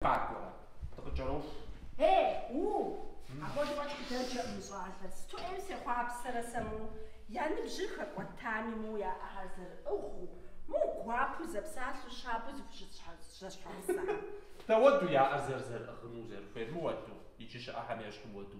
Къакӏуэрэ? Дыкъыкӏэроху. Э, у! Апхуэдэу фӏэкӏ къыдэджэкъым мы щӏалэр. Сыту ӏейм сехъуапсэрэ сэ моу! Я ныбжьыр хэкӏуэтами, моу я ӏэхэр зэрыӏыгъыу, моу гуапэу зэпсалъэу щабэу зыхущыт зэщхьэгъусэм. Дауэду я ӏэр зэрызэрыӏыгъыну, зэрыхуейр? Мыуэду, иджы щыӏэхэм ещхьу уэду.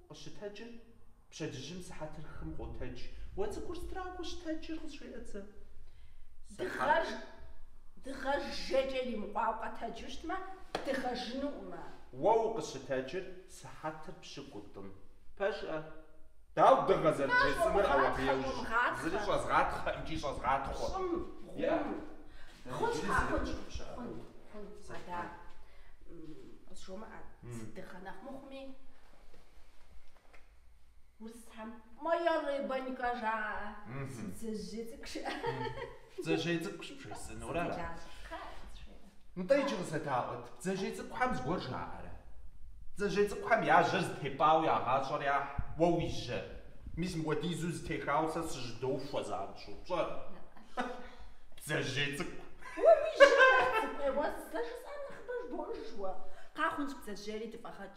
Къыщытэджыр, пщэдджыжьым сыхьэтыр хым къотэдж. Уэ цӏыкӏур сытрауэ укъыщытэджыр къызжеӏэт сэ. Дыгъэж, дыгъэ жейкӏэ иримыкъуауэ къэтэджу щытмэ, дыгъэжынукъымэ. Уэ укъыщытэджыр, сыхьэтыр пщыкӏутӏым. Пэжӏэ, дауэ дыгъэ зэрыбжесӏэнур ауэбейуж, зыри щӏэзгъатхъэ икӏи щӏэзгъатхъуэ. Щӏым, гъум. Хъунщ, къахъунщ, хъун, хъун, адэ, къызжумыӏэ, си дыгъэ нэхъ мыхъуми. Урысхэм моя рыбонька жаӏэ. Бдзэжьей цӏыкӏу жаӏэ. Бдзэжьей цӏыкӏущ бжесӏэнур ара? Нтӏэ иджы къызэдаӏуэт, бдзэжьей цӏыкӏухэм зыгуэр жаӏэрэ? Бдзэжьей цӏыкӏухэм я жьэр зытепӏауэ я гъащӏэр яхь, уэ уи жьэр мис мыпхуэдизу зытехауэ сэ сыжьэдохуэ занщӏэу, пщӏэрэ? Бдзэжьей цӏыкӏу. Уэ уи жьэ, цӏыкӏу, уэ сэ жысӏар нэхъыбэ жыбоӏыж уэ. Къахъунщ бдзэжьейри дыфӏэгъэкӏ.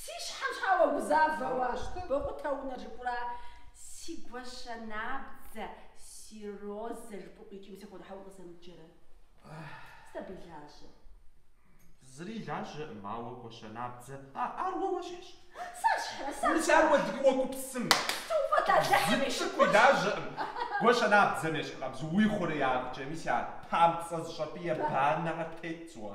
Си щхьэм щхьэ уэгузавэу ащтэ? Бокъутэ унэр жыпӏура? Си гуащэ набдзэ, си розэ жыпӏэу икӏи мис апхуэдэу щхьэ укъызэмыджэрэ? Сыт абы и лажьэр? Зыри лажьэкъым, ауэ гуащэ набдзэ, а ар уэ уэщхьщ. Сэщхьрэ, сэщхьрэ? Ар уэ дэгъуэу уегупсысым. Зы цӏыкӏуи лажьэкъым. Гуащэ набдзэм ещхьыркъабзэу уи хъуреягъкӏэ мис а памцӏэ зыщӏэпӏие банэхэр тетщ уэ.